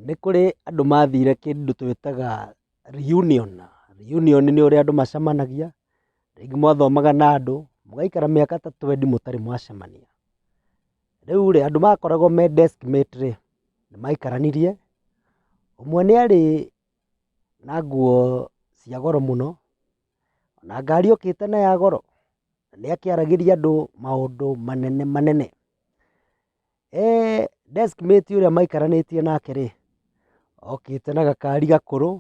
Nĩ kũrĩ andũ mathire kĩndũ twĩtaga reunion. Reunion nĩ ũrĩa andũ macemanagia, rĩngĩ mwathomaga na andũ, mũgaikara mĩaka ta twendi mũtarĩ mwacemania. Rĩu rĩ, andũ makoragwo me desk mate rĩ, nĩ maikaranirie, ũmwe nĩ arĩ na nguo cia goro mũno, na ngari okĩte na ya goro, na nĩ akĩaragĩria andũ maũndũ manene manene. Desk mate ũrĩa maikaranĩtie nake rĩ, okĩte na gakari gakũrũ,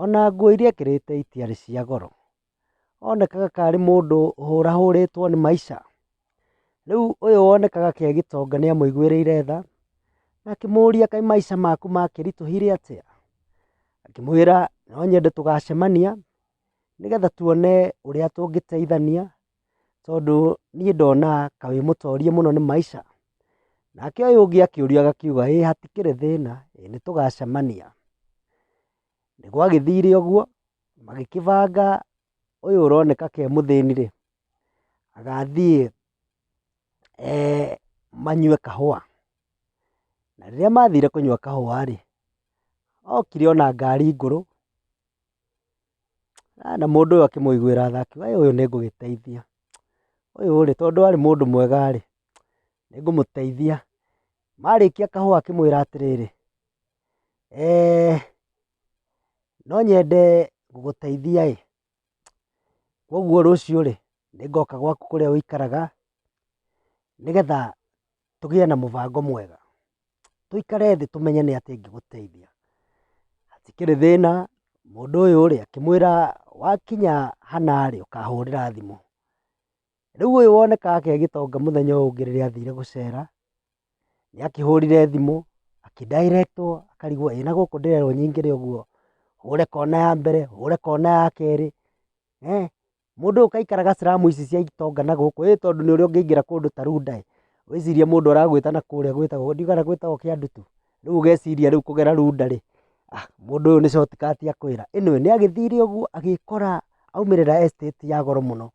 ona nguo iria ekĩrĩte itiarĩ cia goro. Onekaga tarĩ mũndũ ũhũrahũrĩtwo nĩ maica. Rĩu ũyũ wonekaga akĩ agĩtonga nĩ amũiguĩrĩire tha, na akĩmũria kaĩ maica maku makĩritũhire atĩa? Akĩmwĩra no nyende tũgacemania, nĩgetha tuone ũrĩa tũngĩteithania. tondũ niĩ ndona ta wĩ mũtorie mũno nĩ maica. Nake ũyũ ũngĩ akĩũrio agakiuga ĩ hatikĩrĩ thĩna, nĩ tũgacemania. Nĩ gwagĩthire ũguo, magĩkĩbanga ũyũ ũroneka ta e mũthĩni rĩ, agathiĩ manyue kahũa. Na rĩrĩa mathire kũnyua kahũa rĩ, okire ona ngari ngũrũ. Na mũndũ ũyũ akĩmũiguĩra tha akiuga ũyũ nĩ ngũgĩteithia, ũyũ rĩ tondũ arĩ mũndũ mwega rĩ, nĩ ngũmũteithia. Marĩkia kahũa akĩmwĩra atĩrĩrĩ, no nyende gũgũteithia ĩ, koguo rũciũ rĩ, nĩ ngoka gwaku kũrĩa ũikaraga nĩgetha tũgĩe na mũbango mwega, tũikare thĩ tũmenye nĩ atĩa ĩngĩgũteithia. Hatikĩrĩ thĩna, mũndũ ũyũ rĩ, akĩmwĩra wakinya hana rĩ, ũkahũrĩra thimũ. Rĩu ũyũ woneka agĩgĩtonga mũthenya ũyũ ũngĩ rĩrĩa athire gũcera, nĩ akĩhũrire thimũ, akĩ dial wo, akarigwo ĩ na gũkũ ndĩrerwo nyingĩre ũguo, hũre kona ya mbere, hũre kona ya kerĩ, Mũndũ ũyũ kaĩ aikaraga slum ici cia itonga na gũkũ ĩ tondũ nĩ ũrĩa ũngĩingĩra kũndũ ta Runda ĩ, wĩcirie mũndũ aragwĩta na kũrĩa gwĩtagwo ndiũĩ kana gwĩtagwo Kĩandutu, rĩu ũgeciria rĩu kũgera Runda rĩ, mũndũ ũyũ nĩ shortcut akwĩra. Anyway nĩ agĩthire ũguo agĩkora aumĩrĩra estate ya goro mũno.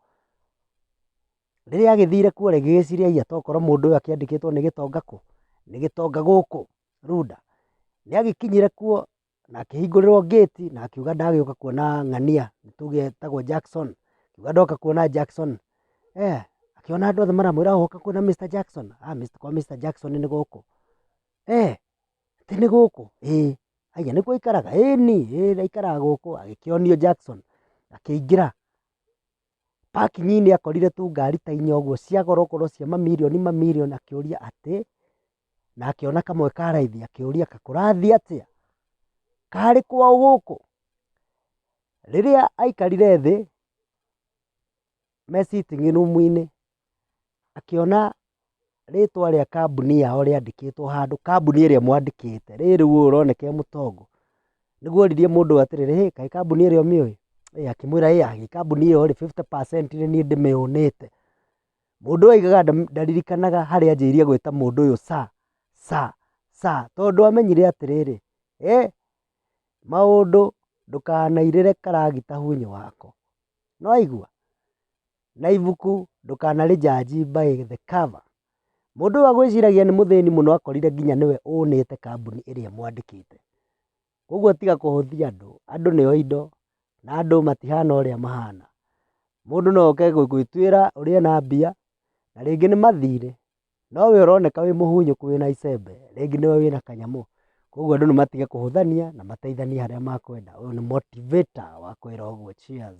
Rĩrĩa agĩthire kuo rĩ, agĩgĩciria aiya tokorwo mũndũ ũyũ akĩandĩkĩtwo nĩ gĩtonga kũ, nĩ gĩtonga gũkũ Runda. Nĩ agĩkinyire kuo Na akĩhingũrĩrwo ngĩti na akiuga ndagĩũka kuona ng'ania tuge etagwo Jackson. Akiuga ndoka kuona Jackson. Eh, akĩona andũ othe maramwĩra oka kuona Mr. Jackson. Ah, Mr. kwa Mr. Jackson nĩ gũkũ. Eh, atĩ nĩ gũkũ? Ĩĩ. Aya nĩkuo aikaraga? Ĩĩni, ĩĩ ndaikaraga gũkũ. Agĩkĩonio Jackson. Akĩingĩra. Parking -inĩ akorire tũngari ta inya ũguo cia goro goro cia mamirioni mamirioni akĩũria atĩ, na akĩona kamwe ka raithi akĩũria kũrathiĩ atĩa, karĩ kwao gũkũ? Rĩrĩa aikarire thĩ me sitting room -inĩ akĩona rĩtwa rĩa kambuni yao rĩandĩkĩtwo handũ, kambuni ĩrĩa ĩmwandĩkĩte, rĩrĩ rĩu ũyũ ũroneka e mũtongo, nĩguo oririe mũndũ ũyũ atĩrĩrĩ, "Hĩ, kaĩ kambuni ĩrĩa ũmĩũĩ?" Akĩmwĩra, "Ĩ aah, kambuni ĩyo rĩ, fifty percent nĩ niĩ ndĩmĩũnĩte." Mũndũ ũyũ augaga ndaririkanaga harĩa anjĩrĩirie gwĩta mũndũ ũyũ sir, sir, sir, tondũ amenyire atĩrĩrĩ, "Hĩ, maũndũ ndũkanairĩre karagita hũnyũ wako." Nĩ waigua? na ibuku ndũkanarĩjanji by the cover. Mũndũ ũyũ agwĩciragia nĩ mũthĩni mũno akorire nginya nĩwe ũnĩte kambuni ĩrĩa ĩmwandĩkĩte. Ũguo tiga kũhũthia andũ, andũ nĩo indo na andũ matihana ũrĩa mahana. Mũndũ no oke gũgĩtuĩra ũrĩe na mbia na rĩngĩ nĩ mathirĩ, no we ũroneka wĩ mũhunyũku wĩna icembe rĩngĩ nĩwe wĩna kanyamũ. Ũguo andũ nĩ matige kũhũthania na mateithanie harĩa makwenda. Ũyũ nĩ motivator wakwĩra ũguo cheers.